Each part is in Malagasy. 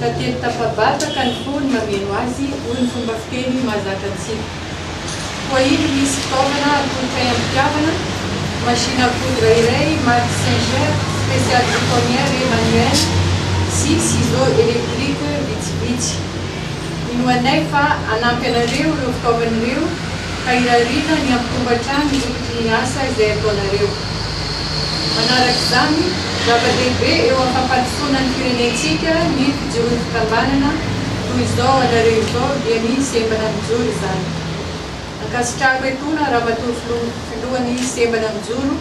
Ka teny tafabata ka ny fony mameno azy, hoy ny fomba fiteny mahazatra antsika. Koa iny misy fitaovana atolotray am-pitiavana, machine à coudre iray marque Singer, spéciale chiffonnière et manuelle, sy ciseaux électriques vitsivitsy. Mino anay fa hanampy anareo ireo fitaovana ireo ka irariana ny hampitombo hatrany ny vidin'ny asa izay ataonareo. Manaraka izany, zava-dehibe eo am-pampandrosoana ny firenentsika ny fijoroan'ny fikambanana, toy izao anareo izao dia ny sembana mijoro izany. Ankasitrahako etoana Ramatoa Filoha Filohan'ny sembana mijoro,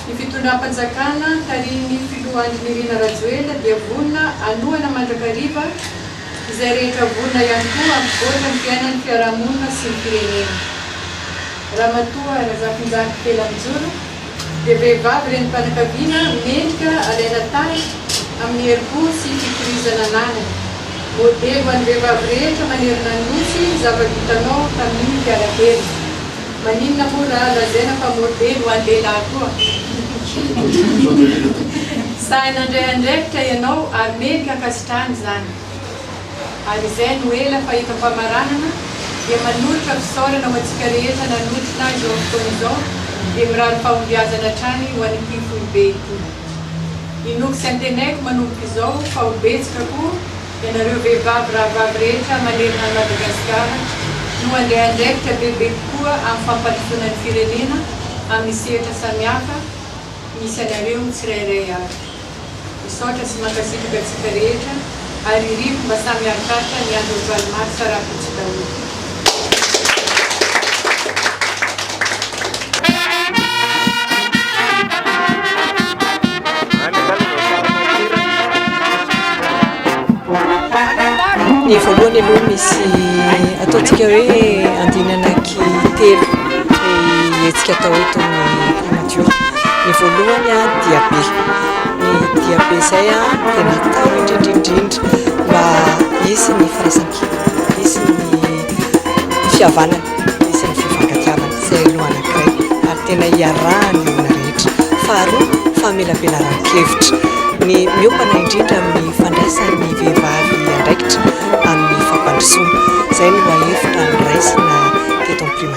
ny fitondram-panjakana tarihin'ny Filoha Andry Nirina Rajoelina dia vonona hanohana mandrakariva izay rehetra vonona ihany koa hampivoatra ny fiainan'ny fiarahamonina sy ny firenena. Ramatoa Razafinjaky Felamijoro dia vehivavy renim-panakaviana mendrika alaina tahaka amin'ny herim-po sy fikirizana ananany. Modely ho an'ny vehivavy rehetra manerana ny Nosy ny zava-bitanao tamin'iny mpiara kely. Maninona moa ra lazaina fa modely ho an'ny lehilahy koa? Sahy nandray andraikitra ianao ary mendrika ankasitrahana izany. Ary izay no ela fahita famaranana dia manolotra fisaorana ho antsika rehetra nanotrona azy eo amin'ny fotoana izao dia mirary fahombiazana hatrany ho an'ity foibe ity. Inoako sy antenaiko manomboka izao fa ho betsaka koa ianareo vehivavy rahavavy rehetra manerana an'i Madagasikara no handray andraikitra bebe kokoa amin'ny fampandrosoana ny firenena amin'ny sehatra samihafa misy anareo tsirairay avy. Misaotra sy mankasitraka antsika rehetra ary irivo mba samy hiarikaritra ny andron'ny valo marsa rahampitso daholo. Ny voalohany aloha misy ataontsika hoe andinana anaky telo ny hetsika atao eto amin'ny. radio ny voalohany a diabe ny diabe izay a dia natao indrindrindrindra mba hisy ny firaisankina hisy ny fihavanana hisy ny fifankatiavana izay no anankiray ary tena hiarahany olona rehetra faharoa famelabelaran-kevitra ny miopana indrindra amin'ny fandraisan'ny vehivavy andraikitra amin'ny fampandrosoana izay no mahefitra ny raisina teto amin'ny primati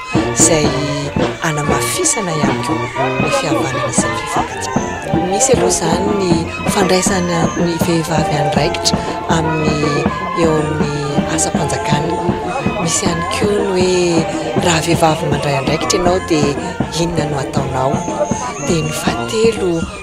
izay hanamafisana ihany koa ny fihavanana sy ny fifampihatsiahana. Misy aloha izany ny fandraisana ny vehivavy andraikitra amin'ny eo amin'ny asam-panjakana. Misy ihany koa ny hoe raha vehivavy mandray andraikitra ianao dia inona no ataonao. Dia ny fahatelo.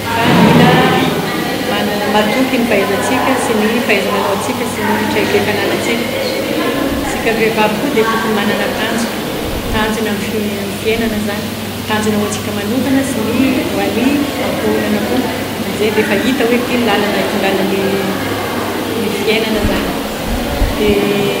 Fa mila matoky ny fahaizantsika sy ny fahaiza-manaontsika sy ny traikefananantsika. Isika vehivavy koa dia tokony manana tanjona. Tanjona amin'ny fiainana izany. Tanjona ho antsika manokana sy ny ho an'ny ankohonana koa. Amin'izay dia efa hita hoe ity ny lalana hitondrana ny fiainana izany. Dia.